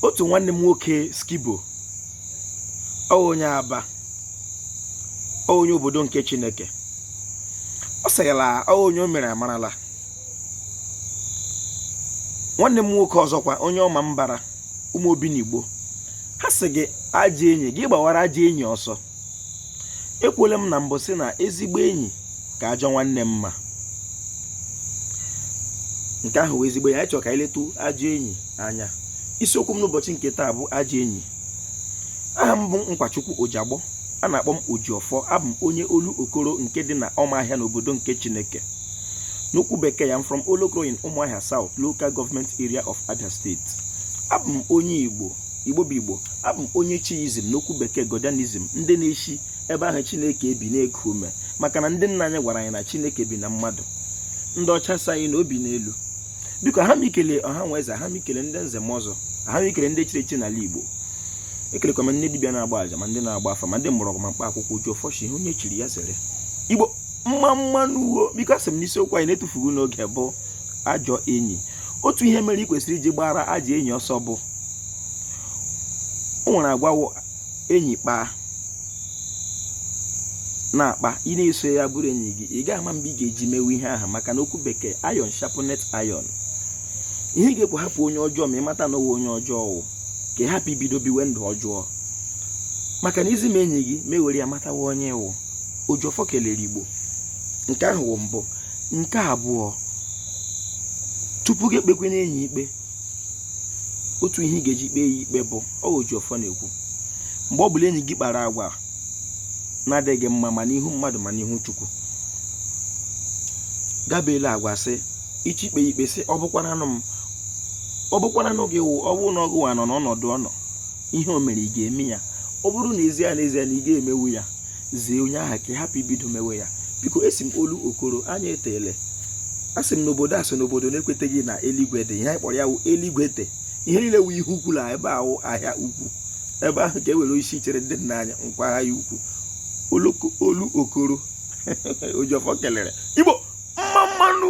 otu nwanne m nwoke skibo onye aba onye obodo nke chineke ọ sị gị la onye o mere amarala nwanne m nwoke ọzọkwa onye ọmambara ụmụ obiligbo ha sị gị ajọ enyi gị gbawara ajọ enyi ọsọ ekwuola m na mbụ sị na ezigbo enyi ka ajọ nwanne mma nke ahụ wụ ezigbo enyi anyị chọrọ ka anyị letu ajọ enyi anya isiokwu m n'ụbọchị nke taa bụ ajọ enyi aha m bụ Nkwachukwu Ojiagbọ a na-akpọ m Ojiọfọ abụ m onye olokoro nke dị na Ọmahịa n'obodo nke Chineke n'okwu bekee I am from Olokoro in Umuahia South Local Government Area of Abia State abụ m onye Igbo igbo bụ igbo abụ m onye chiism n'okwu bekee godianism ndị na-eshi ebe ahụ chineke bi na-eku ume maka na ndị nna anyị gwara anyị na chineke bi na mmadụ ndị ọcha sị anyị na o bi n'elu biko aha m ikele ọha na eze aha m ikele ndị nze na ọzọ aha m ikele ndị chiri echi n'ala igbo ekelekwa m ndị dibịa na-agba aja ma ndị na-agba afa ma ndị mgbọrọgwụ ma mkpa akwụkwọ ojiọfọ shị ihe onye chiri ya zere igbo mma mma nụ wo biko asị m na isiokwu anyị na-etufughị n'oge bụ ajọ enyi otu ihe mere ị kwesịrị iji gbara ajọ enyi ọsọ bụ o nwere agwa wụ enyi kpaa na-akpa ị na-eso ya bụrụ enyi gị ị gaghị ama mgbe ị ga-eji mewe ihe ahụ maka na okwu bekee iron sharpeneth iron ihe ị ga-ekwu hapụ onye ọjọọ ma ị mata na ọ wụ onye ọjọọ wụ ka ị hapụ ibido biwe ndụ ọjọọ maka na i zi m enyi gị m ewere ya matawa onye ị wụ ojiọfọ kelere igbo nke ahụ wụ mbụ nke abụọ tupu gị ekpekwenụ enyi ikpe otu ihe ị ga-eji kpee ya ikpe bụ ojiọfọ na-ekwu mgbe ọ bụla enyi gị kpara agwa na-adịghị mma ma n'ihu mmadụ ma n'ihu chukwu gabela agwa sị ichi ikpe ikpe sị ọ bụkwaranụ m ọ bụkwaranụ gị wụ ọ bụrụ na ọ gị nwa nọ n'ọnọdụ ọ nọ ihe o mere ị ga-eme ya ọ bụrụ na ezie na ezie na ị ga-emewu ya zie onye ahụ ka ị hapụ ibido mewe ya biko esi m olokoro anya etele asị m n'obodo asị n'obodo na-ekweteghị na eluigwe dị ihe anyị kpọrọ ya wụ eluigwe dị ihe niile wụ ihe ukwu na ebe ahụ ahịa ukwu ebe ahụ ka e were isi chere ndị nna anyị nkwọ ahịa ukwu olokoro ojiọfọ kelere igbo mma mma nụ